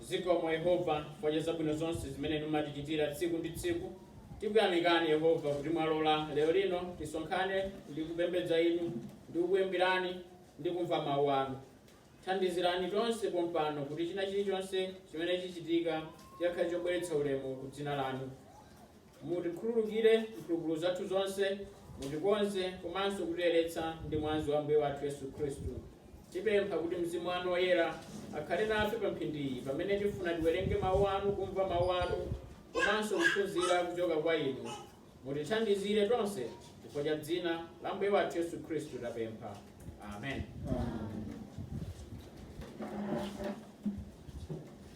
Zikomo Yehova chifukwa cha zabwino zonse zimene Inu mumatichitira tsiku ndi tsiku. Tikuyamikani Yehova kuti mwalola lero lino tisonkhane ndi kupembedza Inu ndi kukuyimbirani ndi kumva mawu anu. Thandizirani tonse pompano kuti china chilichonse chimene chichitika chikhale chobweretsa ulemu ku dzina lanu. mutikhululukire mphulupulu zathu zonse mutikonze komanso kutiyeretsa ndi mwazi wa ambuye wathu yesu khristu tipempha kuti mzimu wanu woyera akhale nafe pa mphindiyi pamene tifuna tiwerenge mawu anu kumva mawu anu komanso kuphunzira kuchoka kwa inu mutithandizire tonse chifukwa cha dzina la mbuye wathu yesu khristu tapempha amen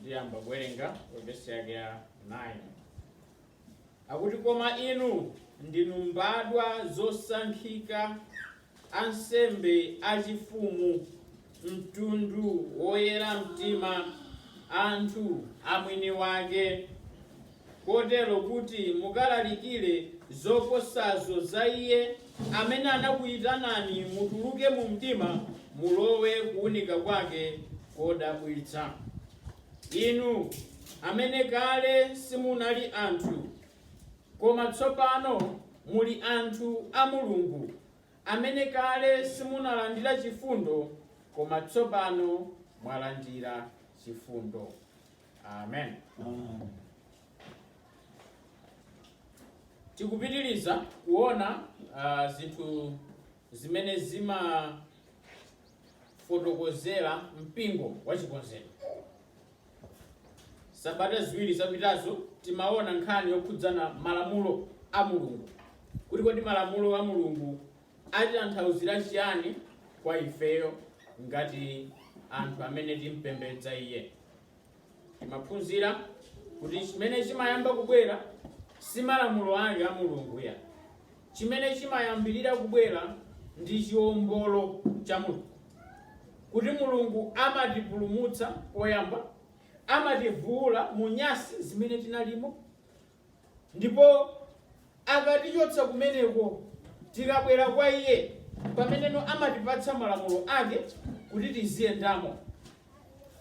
ndiyamba kuwerenga vesi yake ya 9 akuti koma inu ndinu mbadwa zosankhika ansembe achifumu mtundu woyera mtima anthu amwini wake kotero kuti mukalalikire zoposazo za Iye amene anakuyitanani mutuluke mu mdima mulowe kuwunika kwake kodabwitsa. Inu amene kale simunali anthu, koma tsopano muli anthu a Mulungu, amene kale simunalandira chifundo, koma tsopano mwalandira chifundo. amen tikupitiriza kuona ah, zinthu zimene zimafotokozera mpingo wa chikonzero sabata ziwiri zapitazo timaona nkhani yokhudzana malamulo a mulungu kuti kodi malamulo a mulungu atitanthauzira chiyani kwa ifeyo ngati anthu amene timpembedza iye timaphunzira kuti chimene chimayamba kubwera si malamulo ake a mulungu ya chimene chimayambirira kubwera ndi chiombolo cha mulungu kuti mulungu amatipulumutsa poyamba amativuula mu nyasi zimene tinalimo Ndipo akatichotsa kumeneko, tikabwera kwa Iye, pameneno amatipatsa malamulo Ake kuti tiziyendamo,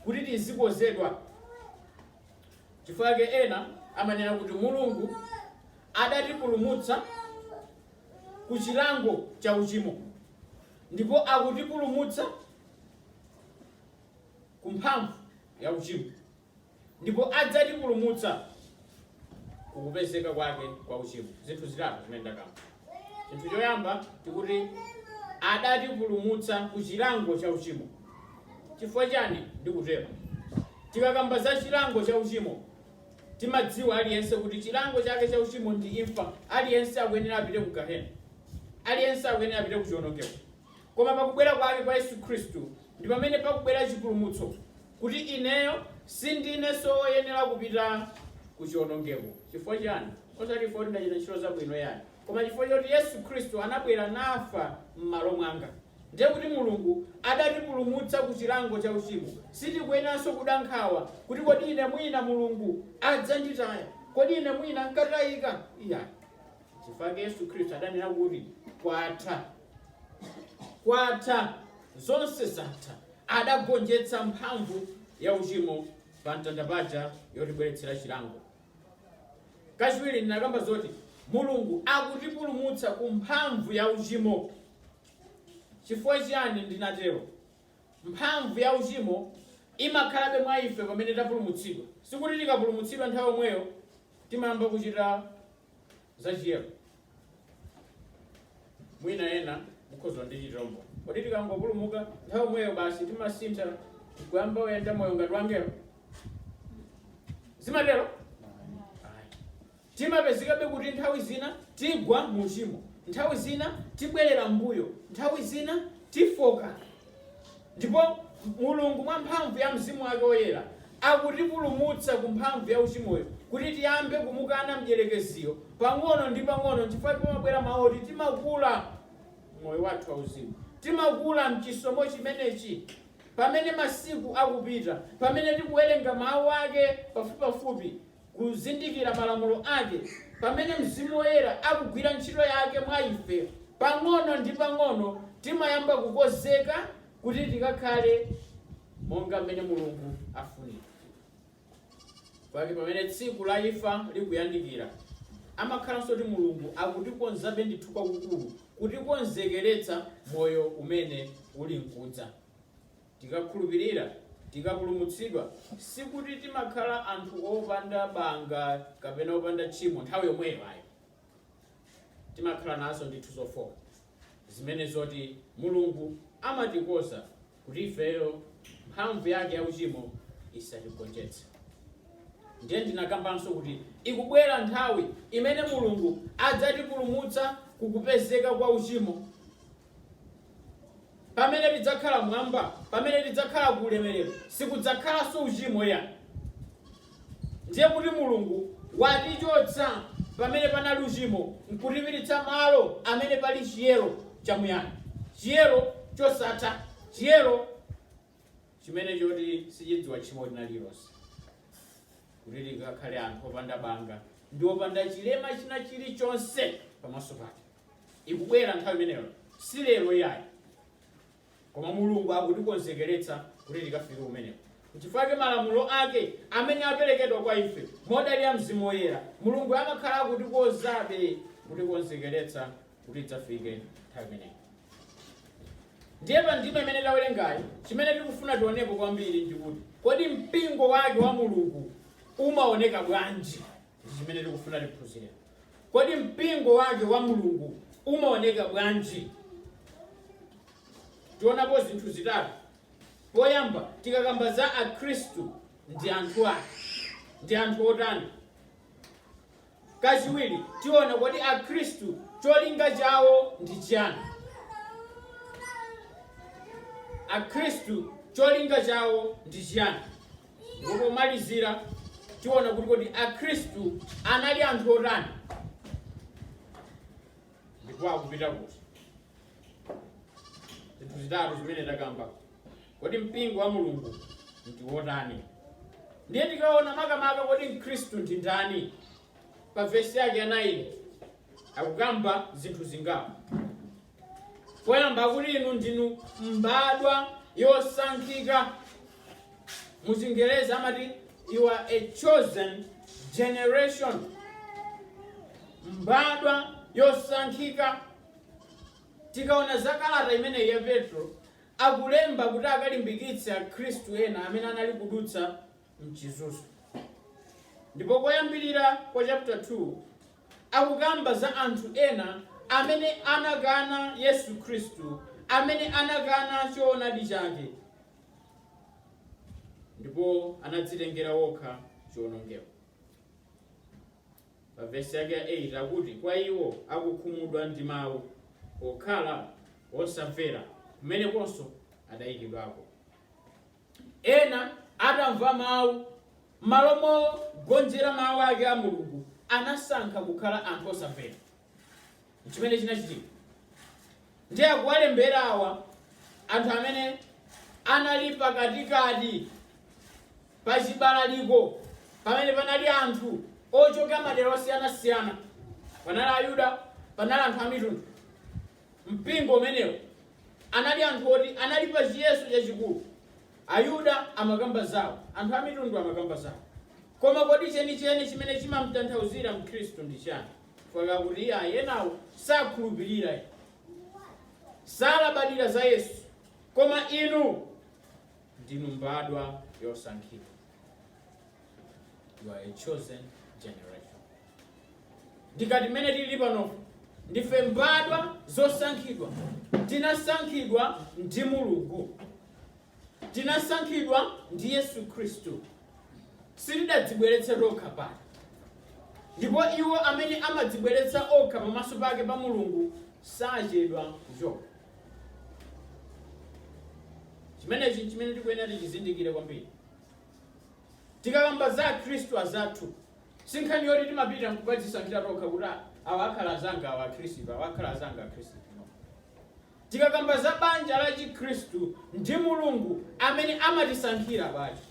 kuti tizikonzedwa. Chifukwa chake ena amanena kuti Mulungu adatipulumutsa ku chilango cha uchimo ndipo akutipulumutsa ku mphamvu ya uchimo. ndipo adzatipulumutsa ku kupezeka kwake kwa uchimo. Zinthu zitatu zimene ndakamba. Chinthu choyamba tikuti adatipulumutsa ku chilango cha uchimo. Chifukwa chani ndikutero? Tikakamba za chilango cha uchimo timadziwa aliyense kuti chilango chake cha uchimo ndi imfa. Aliyense akuyenera apite ku gahena, aliyense akuyenera apite ku chiwonongeko. Koma pakubwera kwake kwa Yesu Khristu ndi pamene pakubwera chipulumutso, kuti ineyo sindinenso woyenera kupita ku chionongeko. Chifukwa chiyani? Osati chifukwa kuti ndachita ntchito zabwino iyayi, koma chifukwa choti Yesu Khristu anabwera nafa m'malo mwanga. Ndiye kuti Mulungu adatipulumutsa ku chilango cha uchimo. Sitikuyeneranso kuda nkhawa kuti kodi ine mwina Mulungu adzanditaya? Kodi ine mwina nkatayika? Iyayi. Chifukwa chake Yesu Khristu adanena kuti, kwatha. kwatha, zonse zatha. Adagonjetsa mphamvu ya uchimo pa mtanda paja yotibweretsera chilango. Kachiwiri ndinakamba zoti Mulungu akutipulumutsa ku mphamvu ya uchimo. Chifukwa chiyani ndinatero? Mphamvu ya uchimo imakhalabe mwa ife pamene tapulumutsidwa. Sikuti tikapulumutsidwa nthawi yomweyo timayamba kuchita za chiyero mwina ena mukhoza nditsimikizira kodi tikangopulumuka nthawi yomweyo basi timasintha kuyamba kuyenda moyo ngati wangelo zimatero Ayi. timapezekabe kuti nthawi zina tigwa mu uchimo nthawi zina tibwerera mbuyo nthawi zina tifooka Ndipo Mulungu, mwa mphamvu ya Mzimu Wake Woyera, akutipulumutsa ku mphamvu ya uchimoyo, kuti tiyambe kumukana Mdyerekeziyo pang'ono ndi pang'ono, nchifukwa chake pamabwera mawu oti timakula m'moyo wathu wauzimu. Timakula m'chisomo chimenechi pamene masiku akupita, pamene tikuwerenga Mawu Ake pafupipafupi, kuzindikira malamulo ake pamene Mzimu Woyera akugwira ntchito yake mwa ife, pang'ono ndi pang'ono timayamba kukonzeka kuti tikakhale monga mmene Mulungu afunira. Nchifukwa chake pamene tsiku la imfa likuyandikira, amakhalanso kuti Mulungu akutikonzabe ndithu kwakukulu, kutikonzekeretsa moyo umene uli nkudza. Tikakhulupirira, tikapulumutsidwa, sikuti timakhala anthu opanda banga kapena opanda tchimo nthawi yomweyo ayi. Timakhala nazo ndithu zofooka zimene zoti Mulungu amatikonza kuti ifeyo mphamvu yake ya uchimo isatigonjetse. Ndiye ndinakambanso kuti ikubwera nthawi imene Mulungu adzatipulumutsa kukupezeka kwa uchimo. Pamene tidzakhala m'mwamba, pamene tidzakhala ku ulemerero, sikudzakhalanso uchimo yayi ndiye kuti Mulungu watichotsa pamene panali uchimo nkutipititsa malo amene pali chiyero chamuyaya, chiyero chosatha, chiyero chimene choti sichidziwa tchimo lina lililonse, kuti tikakhale anthu opanda banga ndi opanda chilema china chilichonse pamaso pake. Ikubwera nthawi imeneyo, si lero iyayi, koma Mulungu akutikonzekeretsa kuti tikafike kumeneko. Nchifukwa chake malamulo ake amene aperekedwa kwa ife modalira mzimu woyera, Mulungu amakhala akutikonzabe, kutikonzekeretsa kuti tidzafike nthawi imeneyo. Ndiye pa ndime imene tawerengayi, chimene tikufuna tionepo kwambiri ndi kuti kodi mpingo wake wa Mulungu umaoneka bwanji? ndi chimene tikufuna tiphunzire. Kodi mpingo wake wa Mulungu umaoneka bwanji? Tionapo zinthu zitatu. Poyamba, tikakamba za Akhristu ndi anthu ake, ndi anthu otani? Kachiwiri, tiona kodi Akhristu cholinga chawo ndi chiyani? Akhristu cholinga chawo ndi chiyani? Ndipo pomalizira tiona kuti kodi Akhristu anali anthu otani ndipo akupita kuti zinthu zitatu zimene takamba kodi mpingo wa mulungu ndi wotani ndiye tikaona makamaka kodi mkhristu ndi ndani pa vesi yake ya 9 akukamba zinthu zingapo poyamba kuti inu ndinu mbadwa yosankhika mu chingerezi amati you are a chosen generation mbadwa yosankhika tikaona za kalata imeneyi ya petro akulemba kuti akalimbikitse akhristu ena amene anali kudutsa mchizunzo. Ndipo koyambirira kwa chapter 2 akukamba za anthu ena amene anakana Yesu Khristu, amene anakana choonadi chake ndipo anadzitengera wokha chiwonongeko. Pa vesi yake ya 8 akuti kwa iwo akukhumudwa ndi mawu okhala osamvera kumenekonso adayikidwako. Ena atamva mawu, m'malo mogonjera mawu ake a Mulungu, anasankha kukhala anthu osamvera. N'chimene chinachitika. Ndiye akuwalembera awa anthu amene anali pakatikati pa chibalaliko pamene panali anthu ochoka madera osiyanasiyana. Panali Ayuda, panali anthu a mitundu. Mpingo umenewo anali anthu oti anali pa chiyeso chachikulu. Ayuda amakamba zawo, anthu amitundu amakamba zawo. Koma kodi chenicheni chimene chimamtanthauzira Mkhristu ndi chani? Chifukwa akuti iyayi enawo sakhulupirira, salabadira za Yesu. Koma inu? ndinu mbadwa yosankhidwa you are a chosen generation ndikati mmene tili pano ndife mbadwa zosankhidwa tinasankhidwa ndi mulungu tinasankhidwa ndi yesu khristu sitidadzibweretsa tokha pano ndipo iwo amene amadzibweretsa okha pamaso pake pa mulungu sachedwa kuchoka chimenechi nchimene tikuyenera tichizindikire kwambiri tikakamba za akhristu azathu si nkhani yoti timapita nkukadzisankhira tokha kuti "Ah, awa akhala azanga awa akhristu awa akhala azanga akhristu no. tikakamba za banja la chikhristu ndi mulungu amene amatisankhira banja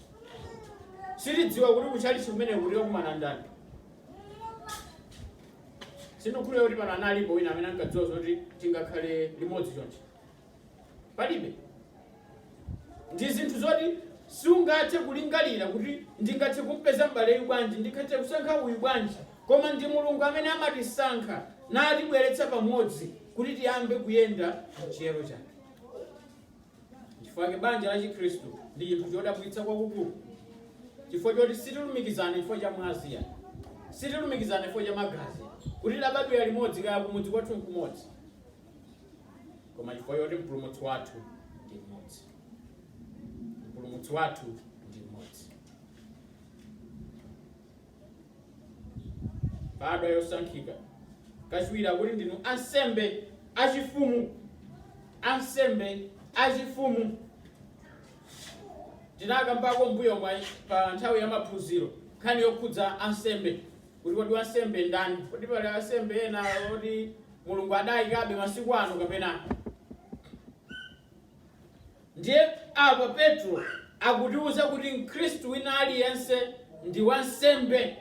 sitidziwa kuti kuchalichi kumene tikakumana ndani Sindikukhulupirira kuti pano analipo wina amene ankadziwa zoti tingakhale limodzi chonchi. Palibe. Ndi zinthu zoti sungathe kulingalira kuti ndingathe kumpeza m'baleyu bwanji, ndingathe kusankha uyu bwanji. Koma ndi Mulungu amene amatisankha natibweretsa pamodzi kuti tiyambe kuyenda m'chiyero chake. Chifukwa chake banja la Chikhristu ndi chinthu chodabwitsa kwakukulu, chifukwa choti sitilumikizana chifukwa cha mwazi ya sitilumikizana chifukwa cha magazi kuti tidabadwira limodzi kaya kumudzi kwathu nkumodzi, koma chifukwa choti mpulumutsi wathu ndi mmodzi. Mpulumutsi wathu ndi mmodzi. Mbadwa yosankhika, kachiwiri akuti ndinu ansembe achifumu, ansembe achifumu. Tinakambako mbuyomu pa nthawi ya maphunziro nkhani yokhudza ansembe kuti kodi wansembe ndani, kodi pali ansembe ena oti Mulungu adayikabe masiku ano kapena Ndiye apa Petro akutiuza kuti Mkhristu wina aliyense ndi wansembe,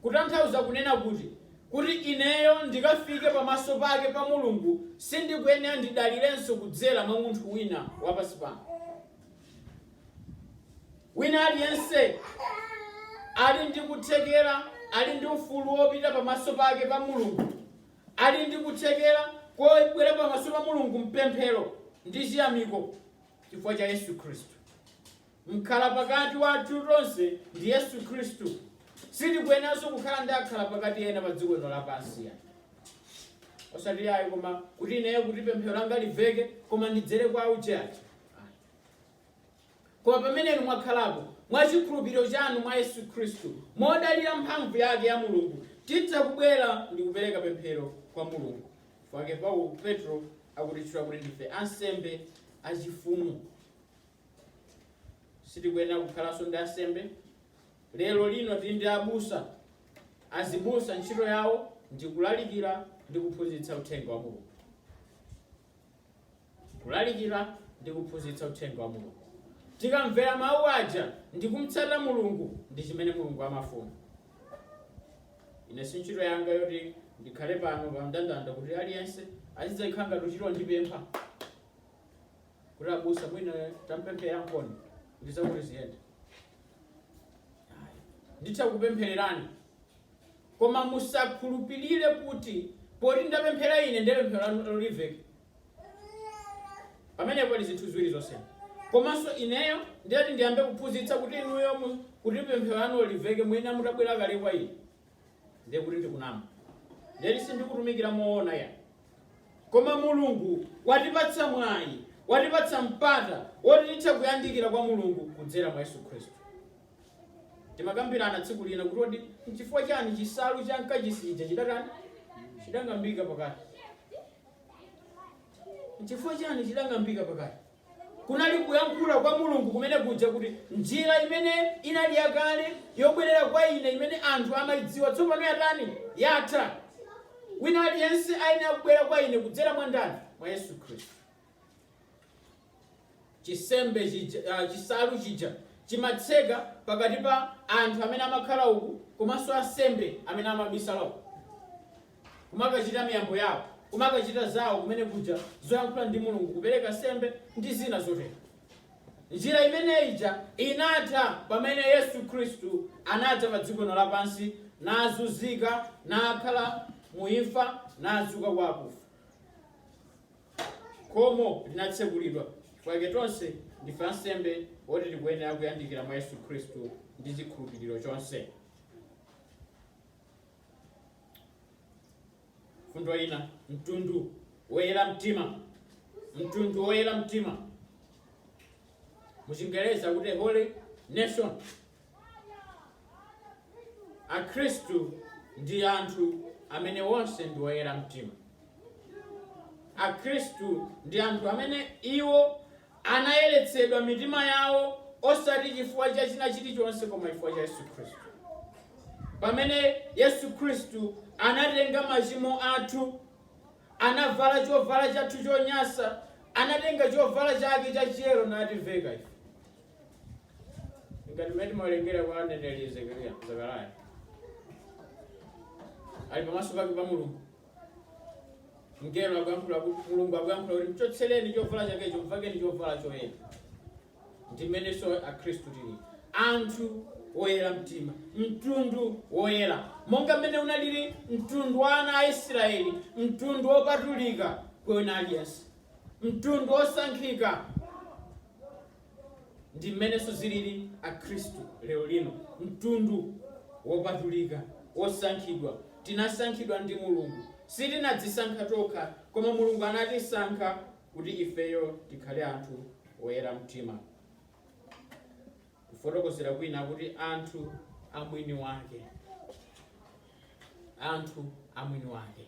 kutanthauza kunena kuti, kuti ineyo ndikafike pamaso pake pa Mulungu sindikuyenera ndidalirenso kudzera mwa munthu wina wa pansi pano. Wina aliyense ali ndi kuthekera, ali ndi ufulu wopita pamaso pake pa Mulungu. Ali ndi kuthekera kobwera pamaso pa Mulungu m'pemphero ndi chiyamiko chifukwa cha Yesu Khristu, mkhalapakati wathu tonse ndi Yesu Khristu. Sitikuyeneranso kukhala ndi akhalapakati ena pa dziko lino lapansi ayi. Osati ayi koma kuti ineyo kuti pemphero langa liveke koma ndidzere kwa uje aja. Koma pamene inu mwakhalapo, mwa chikhulupiriro chanu mwa Yesu Khristu, modalira mphamvu yake ya Mulungu, titha kubwera ndi kupereka pemphero kwa Mulungu. Chifukwa chake Pau Petulo akutitchula kuti ndife ansembe achifumu. Sitikuyenera kukhalanso ndi ansembe. Lero lino tili ndi abusa. Azibusa ntchito yawo ndi kulalikira ndi kuphunzitsa uthenga wa Mulungu. kulalikira ndi kuphunzitsa uthenga wa Mulungu. Tikamvera mawu aja ndi kumtsata Mulungu ndi chimene Mulungu amafuna. Ine si ntchito yanga yoti ndikhale pano pa mndandanda kuti aliyense azidzakhala ngati kutchalitchi kundipempha kuti abusa mwina tandipempherereniponi kuti zakuti ziyende. Ayi. Nditha kupemphererani Koma musakhulupilire kuti poti ndapemphera ine ndiye pemphero lanulo liveke. Pamenepo pali zinthu ziwiri zosiyana. Komanso ineyo ndiye kuti ndiyambe kuphunzitsa kuti inuyo kuti pemphero lanulo liveke muyenera mutabwera kale kwa ine, ndiye kuti ndikunama. Ndiye kuti sindikutumikira moona yayi. Koma Mulungu watipatsa mwayi, watipatsa mpata woti titha kuyandikira kwa Mulungu kudzera mwa Yesu Khristu. Timakambirana tsiku lina kuti kodi nchifukwa chani chisalu cha mkachisi chija chidatani? Chidang'ambika pakati. Nchifukwa chani chidang'ambika pakati? Kunali kuyankhula kwa Mulungu kumene kuja kuti njira imene inali yakale yobwerera kwa ine imene anthu amayidziwa tsopano yatani? Yatha. Wina aliyense ayenera kubwera kwa ine kudzera mwa ndani? Mwa Yesu Khristu. chisembe chija, ah, chisalu chija chimatseka pakati pa anthu amene amakhala uku komanso ansembe amene amabisala uku kumakachita miyambo yawo kumakachita zawo kumene kuja zoyankhula ndi mulungu kupereka nsembe ndi zina zotero njira imene ija inatha pamene yesu khristu anadza pa dziko lino lapansi nazunzika nakhala mu imfa nadzuka kwa akufa Khomo linatsekulidwa, chifukwa chake tonse ndife ansembe oti tikuyenera kuyandikira mwa Yesu Khristu ndi chikhulupiriro chonse. Mfundo ina, mtundu woyera mtima, mtundu woyera mtima muchingereza kuti holy nation akhristu ndi anthu amene onse ndi oyera mtima akhristu ndi anthu amene iwo anayeretsedwa mitima yawo osati chifukwa cha china chilichonse koma chifukwa cha yesu khristu pamene yesu khristu anatenga machimo athu anavala chovala chathu chonyasa anatenga chovala chake cha chiyero nativeka ife ngati mmene timawerengera kwa mneneri Zekariya Zekariya ali pamaso pake pa Mulungu mngelo akuyankhula kuti Mulungu akuyankhula kuti mchotsereni chovala chakecho mvekeni chovala choyera ndi mmenenso akhristu tili anthu woyera mtima mtundu woyera monga mmene unalili mtundu wa ana a israeli mtundu wopatulika kwa wina aliyense mtundu wosankhika Ndi mmenenso zilili Akhristu lero lino, mtundu wopatulika, wosankhidwa. Tinasankhidwa ndi Mulungu. Sitinadzisankha tokha, koma Mulungu anatisankha kuti ifeyo tikhale anthu oyera mtima. Kufotokozera kwina akuti anthu a mwini wake. Anthu a mwini wake.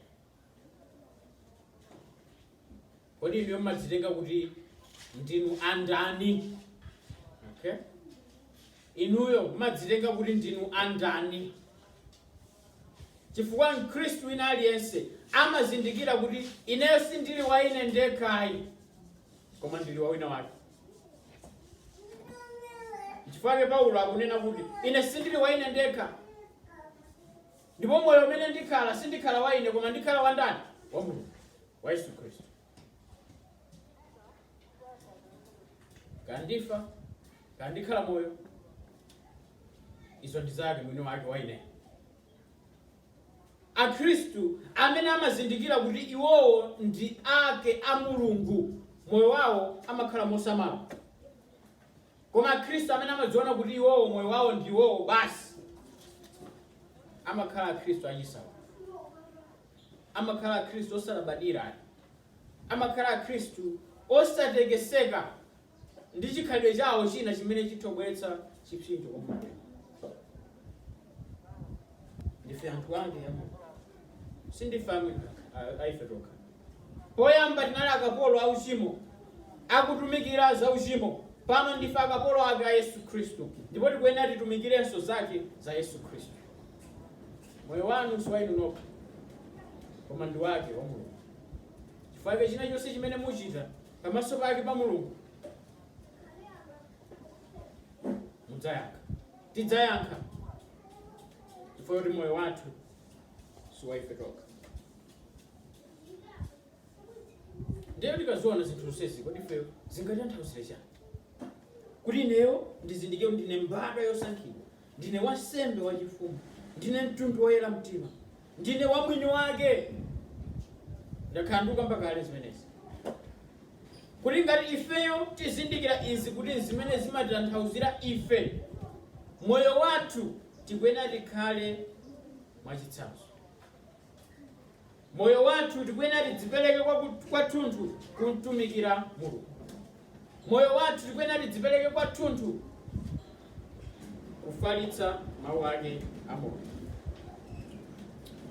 Kodi inuyo mmadzitenga kuti ndinu andani? Okay? Inuyo mmadzitenga kuti ndinu andani? Chifukwa Mkhristu wina aliyense amazindikira kuti ineyo sindili wa ine ndekhayi, koma ndili wa wina wake. Chifukwa Paulo akunena kuti ine sindili wa ine ndekha, Ndipo moyo umene ndikhala, sindikhala wa ine, koma ndikhala wa ndani? Wa Mulungu, wa Yesu Khristu. Kaya ndifa, kaya ndikhala moyo, izo ndi zake mwini wake wa ine. Akhristu amene amazindikira kuti iwowo ndi ake a Mulungu, moyo wawo amakhala mosamala. Koma Akhristu amene amadziona kuti iwowo moyo wawo ndi iwowo basi, amakhala Akhristu achisawawa, amakhala Akhristu osalabadira ayi, amakhala Akhristu osatekeseka ndi chikhalidwe chawo china chimene chitha kubweretsa chipsinjo kwa Mulungu. Ndife anthu ake a Mulungu, sindife amwe a- a ife tokha. Poyamba tinali akapolo a uchimo, akutumikira za uchimo. Pano ndife akapolo ake a Yesu Khristu, ndipo tikuyenera titumikirenso zake za Yesu Khristu. Moyo wanu si wa inu nokha, koma ndi wake wa Mulungu. Chifukwa chinachonse chimene muchita pamaso pake pa Mulungu mudzayankha, tidzayankha, chifukwa choti moyo wathu si wa ife tokha. ndiye tikaziona zinthu zonsezi kodi ifeyo zingatanthauzire chani kuti ineyo ndizindikire kuti ndine mbadwa yosankhidwa ndine wansembe wachifumu ndine mtundu woyera mtima ndine wamwini wake ndakhala ndikukamba kale zimenezi kuti ngati ifeyo tizindikira izi kuti zimene zimatanthauzira ife moyo wathu tikuyenera tikhale mwachitsanzo moyo wathu tikuyenera tidzipereke kwathunthu kumtumikira mulungu moyo wathu tikuyenera tidzipereke kwathunthu kufalitsa mawu ake a mulungu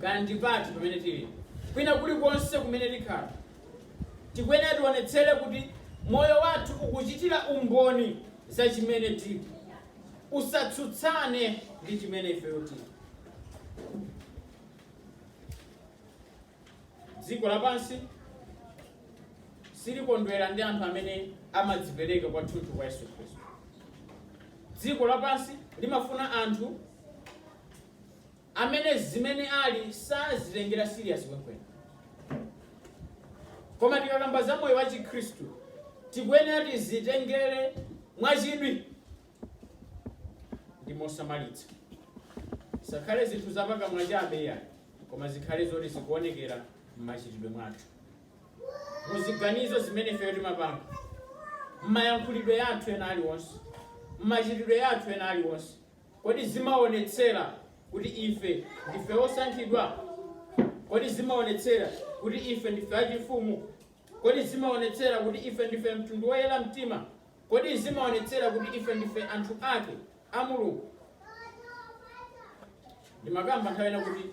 kaya ndi pati pamene tili kwina kulikonse kumene tikhala tikuyenera tionetsere kuti moyo wathu ukuchitira umboni za chimene tili usatsutsane ndi chimene ifeyo tili dziko lapansi silikondwera ndi anthu amene amadzipereka kwathunthu kwa yesu khristu dziko lapansi limafuna anthu amene zimene ali sazitengera serious kwenikweni koma tikakamba za moyo wa chikhristu tikuyenera tizitengere mwachidwi ndi mosamalitsa. Zisakhale zinthu za pakamwa chabe iyayi, koma zikhale zoti zikuonekera m'machitidwe mwathu, mu ziganizo zimene ifeyo timapanga, m'mayankhulidwe athu ena aliwonse, m'machitidwe athu ena aliwonse. Kodi zimaonetsera kuti ife ndife osankhidwa? Kodi zimaonetsera kuti ife ndife achifumu? Kodi zimaonetsera kuti ife ndife mtundu woyera mtima? Kodi zimaonetsera kuti ife ndife anthu ake a Mulungu? Ndimakamba nthawi ina kuti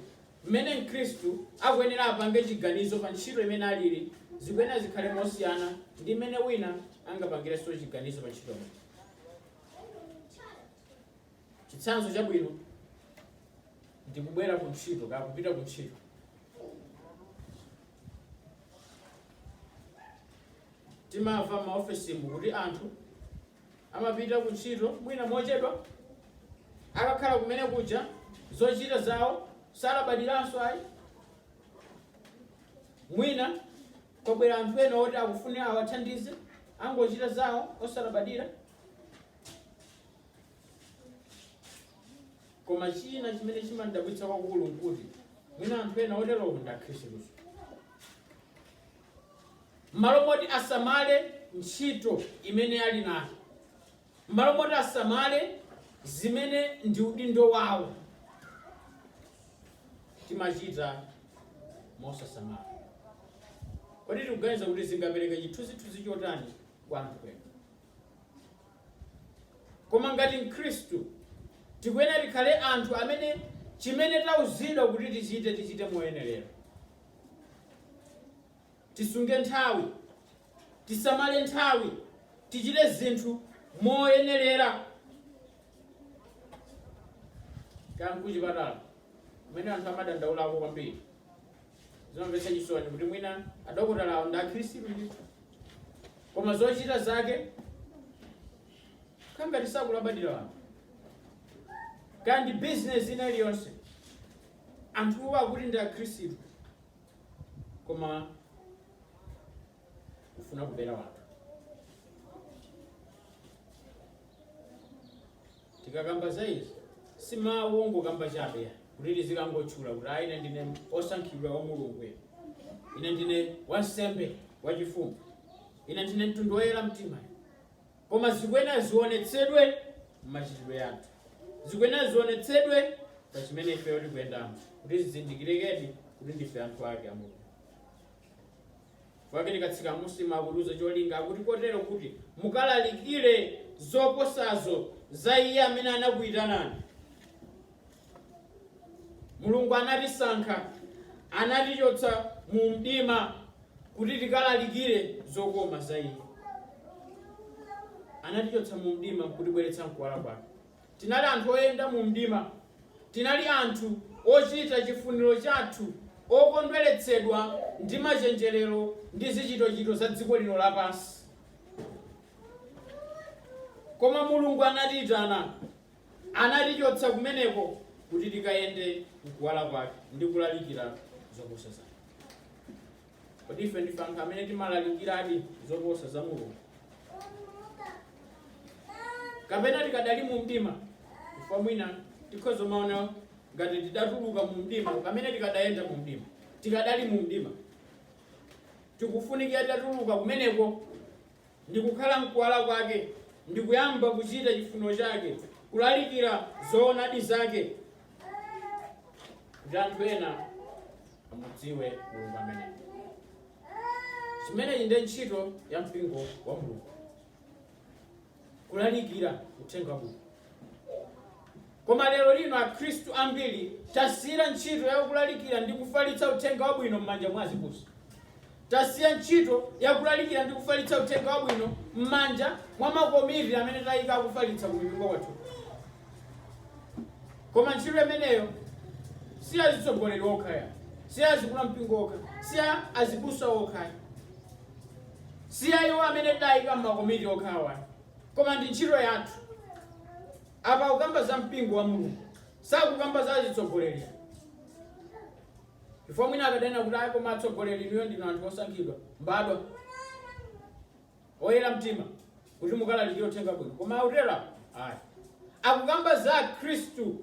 mmene Mkhristu akuyenera apange chiganizo pa ntchito imene aliri zikuyenera zikhale mosiyana ndi mmene wina angapangirenso chiganizo pa ntchito imene. Chitsanzo chabwino ndikubwera ku ntchito kaya kupita ku ntchito. Timamva m'maofesimu kuti anthu amapita kuntchito mwina mochedwa. Akakhala kumene kuja zochita zawo salabadiranso ayi. Mwina kwabwera anthu ena oti akufuna awathandize, angochita zawo osalabadira. koma china chimene chimandabwitsa kwakulu nkuti mwina anthu ena oterowo ndi akhristu m'malo moti asamale ntchito imene ali nayo m'malo moti asamale zimene ndi udindo wawo timachita mosasamala kodi tikuganiza kuti zingapereka chithunzithunzi chotani kwa anthu ena Koma ngati mkhristu, tikuyenera tikhale anthu amene chimene tauzidwa kuti tichite, tichite moyenerera. Tisunge nthawi, tisamale nthawi, tichite zinthu moyenerera. Kaya nkuchipatala, kumene anthu amadandaulako kwambiri. zimamvetsa chisoni kuti mwina adokotalawo ndi akhristu ndithu koma zochita zake kangati sakulabadira wanthu kaya ndi bizinesi ina iliyonse anthuwo akuti ndi akhristu koma kufuna kubera wanthu tikakamba za izi si mawu ongokamba chabe kuti tizikangotchula kuti ayi ine ndine osankhidwa wa mulungu ine ndine wansembe wachifumu ine ndine mtundu woyera mtima koma zikuyenera zionetsedwe m'machitidwe athu zikuyenera zionetsedwe pa chimene ifeyo tikuyendamo kuti zizindikirikedi kuti ndife anthu ake a mulungu Chifukwa chake tikatsika mmusi mukutiuza cholinga akuti kotero kuti mukalalikire zoposazo za iye amene anakuyitanani. Mulungu anatisankha, anatichotsa mu mdima kuti tikalalikire zokoma za iye. Anatichotsa mu mdima kutibweretsa mkuwala kwake. Tinali anthu oyenda mu mdima. Tinali anthu ochita chifuniro chathu, okondweretsedwa ndi machenjerero ndi zichitochito za dziko lino lapansi. Koma Mulungu anatiitana, anatichotsa kumeneko kuti tikayende m'kuwala Kwake ndi kulalikira zoposa zake. Kodi ife ndife anthu amene timalalikiradi zoposa za Mulungu? Kapena tikadali mu mdima? Chifukwa mwina tikhoza kumaona ngati tidatuluka mu mdima pamene tikadayenda mu mdima. Tikadali mu mdima. Tikufunikira titatuluka kumeneko ndi kukhala m'kuwala kwake, ndi kuyamba kuchita chifuniro chake, kulalikira zoonadi zake, kuti anthu ena amudziwe Mulungu ameneyo. Imeneyi ndiye ntchito ya mpingo wa Mulungu, kulalikira uthenga wabwino. Koma lero lino akhristu ambiri tasiya ntchito ya kulalikira ndi kufalitsa uthenga wabwino m'manja mwa azibusa. Tasiya ntchito ya kulalikira ndi kufalitsa uthenga wabwino m'manja mwa makomiti amene tayika akufalitsa ku mipingo kwathu. Koma ntchito imeneyo si ya azitsogoleri okha ayi, si ya azikulu a mpingo okha, si ya azibusa okha ayi, si ya iwo amene tayika m'makomiti okhawa ayi. Koma ndi ntchito yathu. Apa akukamba za mpingo wa Mulungu. Sakukamba za azitsogoleri ayi. Chifukwa mwina akadanena kuti ayi koma atsogoleri inuyo ndinu anthu osankhidwa, mbadwa. Oyera mtima kuti mukalalikire uthenga wabwino. Koma sakutero ayi. Akukamba za Akhristu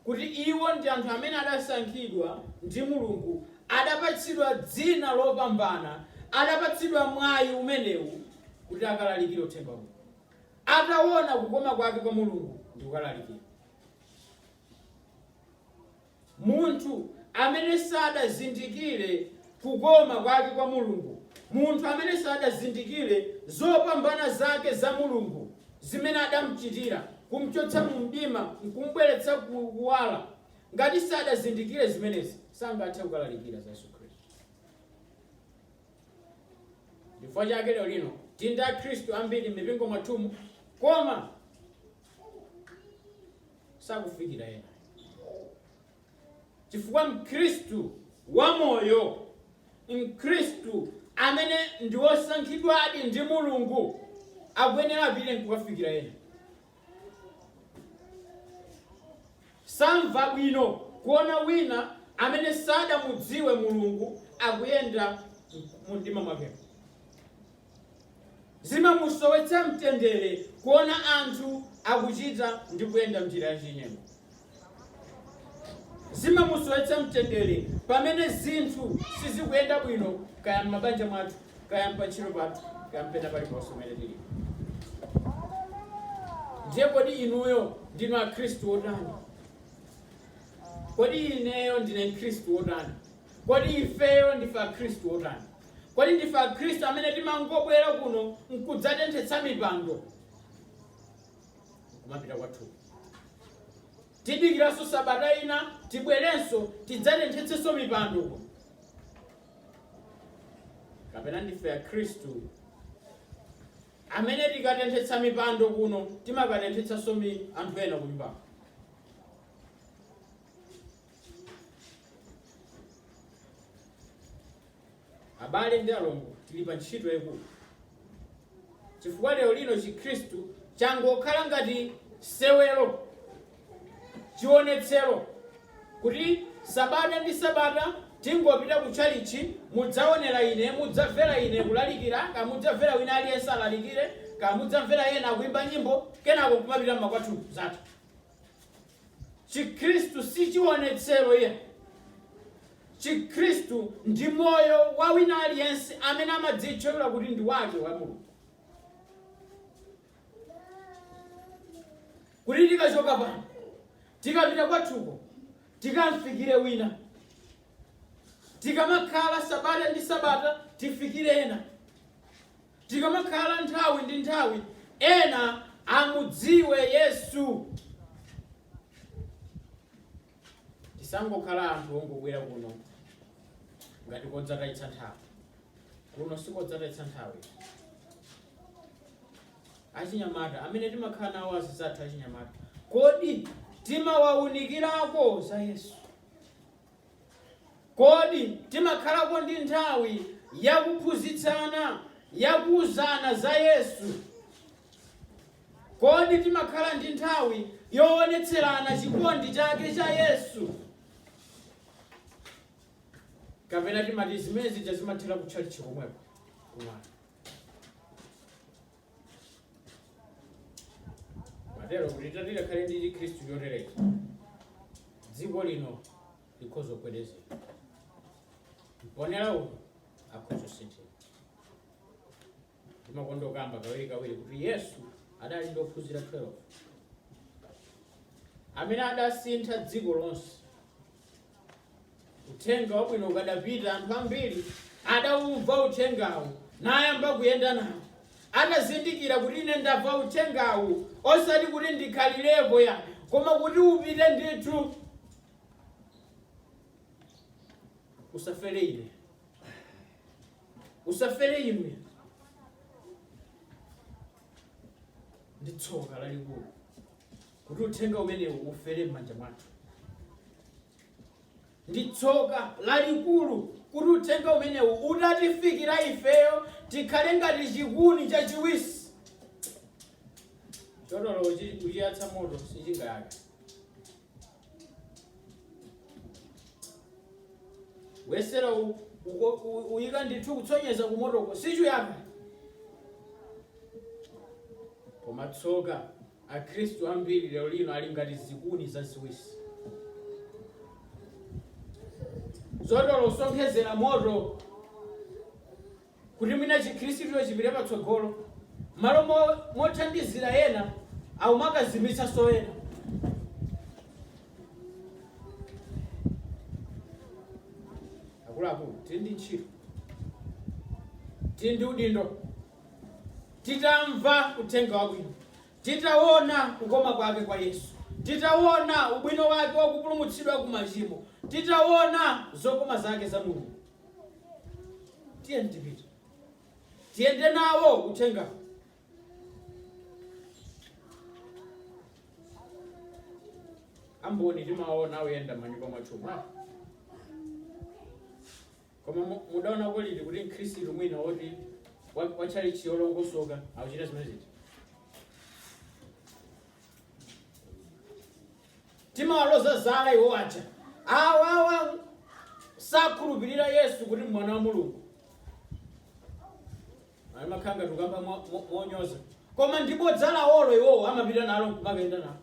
kuti iwo ndi anthu amene adasankhidwa ndi Mulungu, adapatsidwa dzina lopambana, adapatsidwa mwayi umenewu kuti akalalikire uthenga wabwino, atawona kukoma kwake kwa Mulungu ndiye akalalikire. Munthu amene sadazindikire kukoma kwake kwa Mulungu, munthu amene sadazindikire zopambana zake za Mulungu zimene adamchitira, kumchotsa mu mdima nkumbweretsa ku kuwala, ngati sadazindikire zimenezi, sangathe kukalalikira za Yesu Khristu. Chifukwa chake lero lino tili ndi Akhristu ambiri m'mipingo mwathumu, koma sakufikira ena. Chifukwa Mkhristu wamoyo, Mkhristu amene ndi wosankhidwadi ndi Mulungu, akuyenera apite n'kukafikira ena. Samva bwino kuona wina amene sadamudziwe Mulungu akuyenda mumdima mwakemo. Zimamusowetsa mtendere kuona anthu akuchita ndi kuyenda m'njira yachinyengo. Zimamusowetsa mtendere pamene zinthu sizikuyenda bwino, kaya m'mabanja mwathu, kaya m'pantchito pathu, kaya pena paliponse pamene tili. Ndiye kodi inuyo ndinu Akhristu otani? Kodi ineyo ndine Mkhristu wotani? Kodi ifeyo ndife Akhristu otani? Kodi ndife Akhristu amene timangobwera kuno n'kudzatenthetsa mipando kumapita kwathu? Tidikiranso sabata ina tibwerenso tidzatenthetsenso mipando kuno? Kapena ndife Akhristu amene tikatenthetsa mipando kuno timakatenthetsanso anthu ena kunyumbako? abale ndi alongo tili pa ntchito yayikulu chifukwa lero lino chikhristu changokhala ngati sewero chionetsero kuti sabata ndi sabata tingopita ku tchalitchi mudzaonera ine mudzamvera ine kulalikira kaya mudzamvera wina aliyense alalikire kaya mudzamvera ena akuimba nyimbo kenako kumapita mmakwathu zathu chikhristu si chiwonetsero iyayi chikhristu ndi moyo wa wina aliyense amene amadzitchulira kuti ndi wake wa mulungu kuti tikachoka pano tikapita kwathuko tikamfikire wina tikamakhala sabata ndi sabata tifikire ena Tikamakhala nthawi ndi nthawi ena amudziwe Yesu. Tisangokhala anthu ongobwera kuno ngati kodzatayitsa nthawi. Kuno sikodzatayitsa nthawi. Achinyamata amene timakhala nawo azizathu achinyamata, kodi timawaunikirako za Yesu? Kodi timakhalako ndi nthawi ya kuphunzitsana, ya kuuzana za Yesu? Kodi timakhala ndi nthawi yoonetserana chikondi chake cha Yesu? Kapena timati zimene zija zimathera ku tchalitchi komweko kumwana matero kuti tatitikhale ndi chikhristu choterechi dziko lino likhoza kugwedezeka mponera uyu akhoza kusinthika ndimakonda kukamba kawiri kawiri kuti yesu adali ndi ophunzira 12 amene adasintha dziko lonse uthenga wabwino ukadapita anthu ambiri adaumva uthengawu nayamba kuyenda nawo adazindikira kuti ine ndamva uthengawu osati kuti ndikhalirepo ayi koma kuti upite ndithu usafere ine usafere inu ndi tsoka lalikulu kuti uthenga umenewu ufere m'manja mwathu ndi tsoka lalikulu kuti uthenga umenewu utatifikira ifeyo tikhale ngati chikuni chachiwisi choti olo uchiyatsa moto sichingayaka wesera uyika ndithu kutsonyeza kumotoko sichuyaka koma tsoka Akhristu ambiri lero lino ali ngati zikuni zaziwisi zoti olo usonkhezera moto kuti mwina chikhristucho chipite patsogolo malo mothandizira ena akumakazimitsanso ena akuluakulu tili ndi ntchito tili ndi udindo Titamva uthenga wabwino, titawona kukoma kwake kwa Yesu, titawona ubwino wake wa kupulumutsidwa ku machimo, titawona zokoma zake za Mulungu, tiyeni tipite, tiyende nawo uthenga. Amboni timawaona oyenda manyumba mwathu mwa Koma mudaonako liti kuti mkhristu mwina woti wa tchalitchi yolongosoka akuchita zimenezi timawaloza zala iwo aja awawa sakhulupirira yesu kuti mwana wa mulungu amakhala ngati tukamba monyoza koma ndi bodza lawolo iwowo amapita nalo nkumakayenda nalo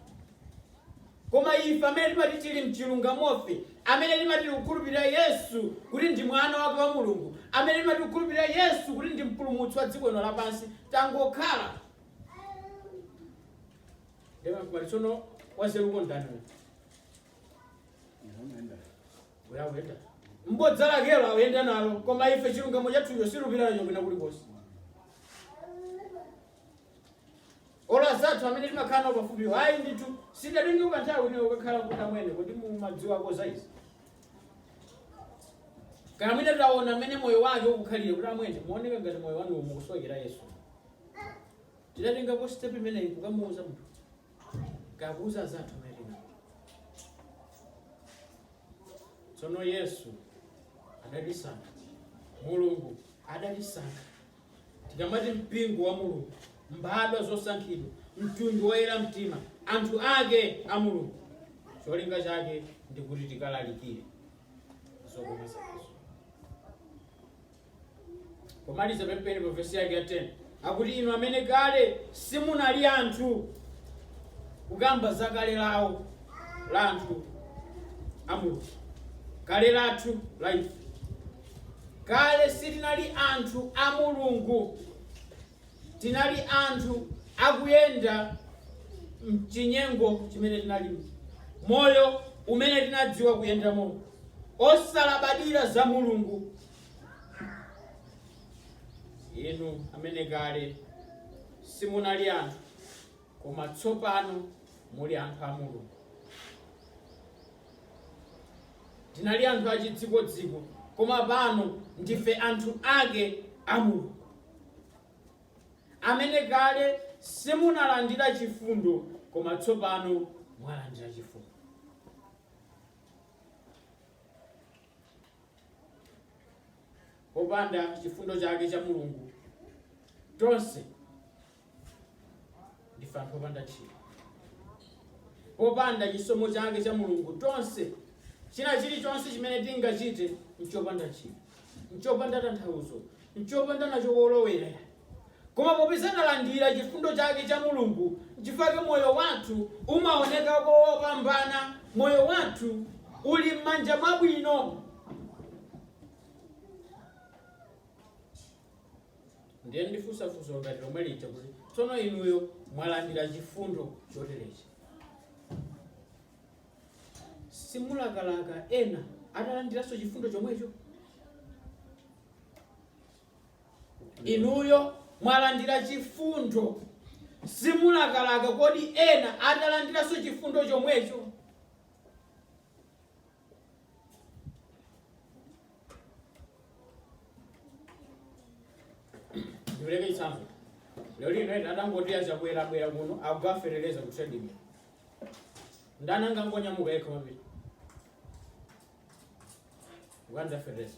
koma ife amene timati tili mchilungamofe amene timati tikukhulupirira yesu kuti ndi mwana wake wa mulungu amene timati tikukhulupirira yesu kuti ndi mpulumutsi wa dziko lino lapansi tangokhala tsono wanzeruko ndani? Uyu awenda ndi bodza lakelo awenda nalo, koma ife chilungamo chathucho situpita nacho kwina kulikonse. Olo anzathu amene timakhala nawo pafupi ayi ndithu tidatengako nthawi ina kukakhala kuti amwene kodi mumadziwako za izi. Kaya mwina taona mmene moyo wake ukukhalira kuti amwene muoneka ngati moyo wanu mukusowekera Yesu. Tidatengako step imeneyi kukamuuza munthu. kukauza anzathu amene tsono yesu adatisankha mulungu adatisankha tikamati mpingo wa mulungu mbadwa zosankhidwa mtundu woyera mtima anthu ake a mulungu cholinga chake ndikuti tikalalikire zokoma zakezo Pomaliza penipeni pa vesi yake ya 10 akuti, inu amene kale simunali anthu, kukamba za kale lawo la anthu a Mulungu, kale lathu la ife. Kale sitinali anthu a Mulungu, tinali anthu akuyenda mchinyengo chimene tinali moyo umene tinadziwa kuyendamo, osalabadira za Mulungu inu amene kale simunali anthu koma tsopano muli anthu a mulungu tinali anthu achidzikodziko koma pano ndife anthu ake a mulungu amene kale simunalandira chifundo koma tsopano mwalandira chifundo Popanda chifundo chake cha Mulungu, tonse ndife anthu opanda ntchito. Popanda chisomo chake cha Mulungu, tonse china chilichonse chimene tingachite nchopanda ntchito, nchopanda tanthauzo, nchopanda nacho kolowera. Koma popeza talandira chifundo chake cha Mulungu, nchifukwa chake moyo wathu umaoneka kopambana. Moyo wathu uli m'manja mwabwino. Ndiye ndifunsa funso ngati lomwe lija kuti tsono inuyo mwalandira chifundo choterechi, simulakalaka ena atalandiranso chifundo chomwecho? Inuyo mwalandira chifundo, simulakalaka kodi ena atalandiranso chifundo chomwecho? Ndipereke chitsanzo. Lero lino ena atangoti a Chakwera abwera kuno akugawa fetereza ku trading. Ndani angangonyamuka yekha kumapita kukatenga fetereza?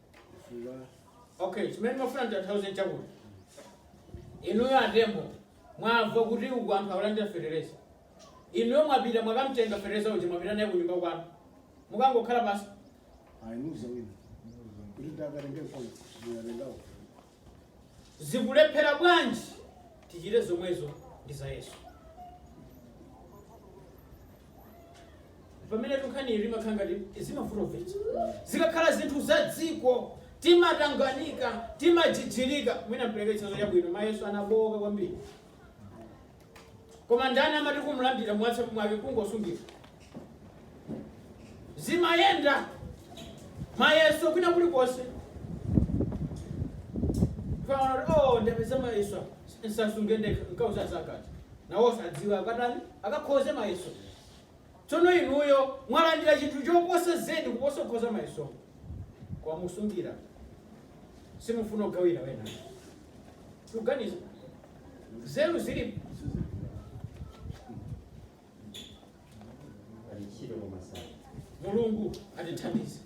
okay chimene mafuna nditanthauze chakuti inuyo a Tembo mwamva kuti uku anthu akulandira fetereza inuyo mwapita mwakamtenga fetereza uja mwapita naye kunyumba kwanu mukangokhala pansi ayi muuza wina kuti akatengepo ndikatengapo zikulephera bwanji tichite zomwezo ndi za yesu pamene tunkhanito zimakhala ngati zimavutavuta zikakhala zinthu za dziko timatanganika timajijirika mwina mpereke chitsanzo chabwino mayeso anabowoka kwambiri Koma ndani amati kumlandira mwatsapu mwake kungosungira? Zimayenda. Mayeso kwina kulikonse. Amafuna kuti oh ndapeza mayeso apa. Nsasunge ndekha nkauza anzakoti. Nawo sadziwa akatani akakhoze mayeso. Tsono inuyo mwalandira chinthu choposa zedi kuposa kukhoza mayeso. Koma mukusungira simufuna kugawira ena. Tuganiza. nzeru zili alichiro kwa masana mulungu atithandize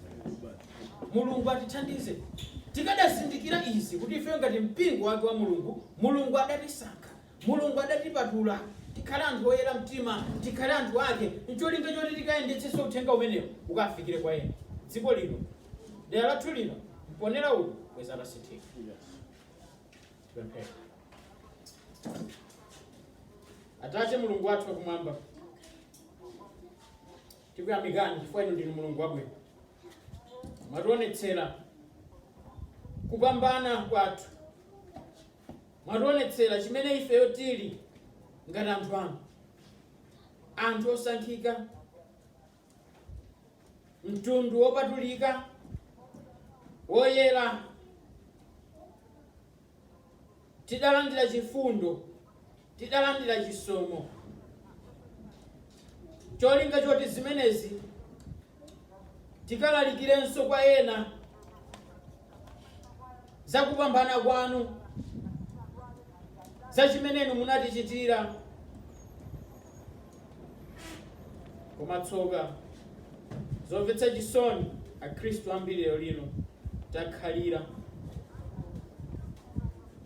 mulungu atithandize tikanazindikira izi kuti ife ngati mpingo wake wa mulungu mulungu adatisankha mulungu adatipatula tikhale anthu oyera mtima tikhale anthu ake ncholinga choti tikayendetsenso uthenga umenewo ukafikire kwa ena dziko lino dera lathu lino mponera uno kwadzaza asinthike Tipemphere. Atate Mulungu wathu wakumwamba, tikuyamikani chifukwa inu ndinu Mulungu wabwino. Mwationetsera kupambana kwathu, mwationetsera chimene ifeyo tili ngati anthu anu, anthu osankhika, mtundu wopatulika woyera tidalandira chifundo tidalandira chisomo cholinga choti zimenezi tikalalikirenso kwa ena za kupambana kwanu za chimene inu munatichitira Koma tsoka, zomvetsa chisoni, Akristu ambiri lero lino takhalira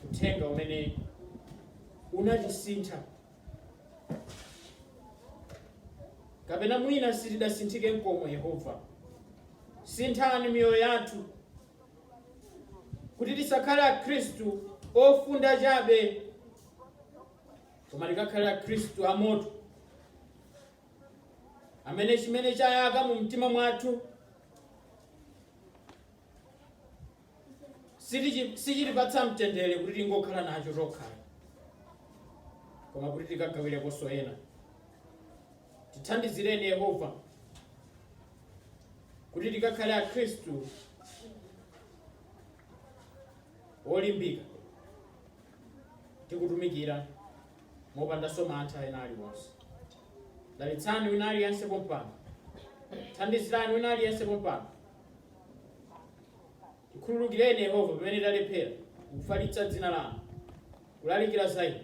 uthenga umene unatisintha kapena mwina sitidasinthike nkomwe. Yehova, sinthani miyoyo yathu kuti tisakhale Akristu ofunda chabe koma tikakhale akhristu amoto amene chimene chayaka mu mtima mwathu sitichi- sichitipatsa mtendere kuti tingokhala nacho tokha koma kuti tikagawirekonso ena tithandizireni yehova kuti tikakhale akhristu olimbika tikutumikira mopandanso mantha ena aliwonse dalitsani wina aliyense pompano thandizirani wina aliyense pompano tikhululukireni yehova pamene talephera kufalitsa dzina lanu kulalikira za inu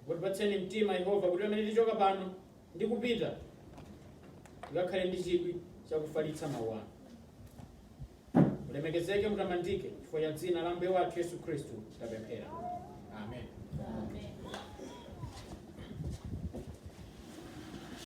mutipatseni mtima yehova kuti pamene tichoka pano ndi kupita tikakhale ndi chidwi cha kufalitsa mawu anu mulemekezeke mutamandike chifukwa cha dzina la mbuye wathu yesu khristu tapemphera amen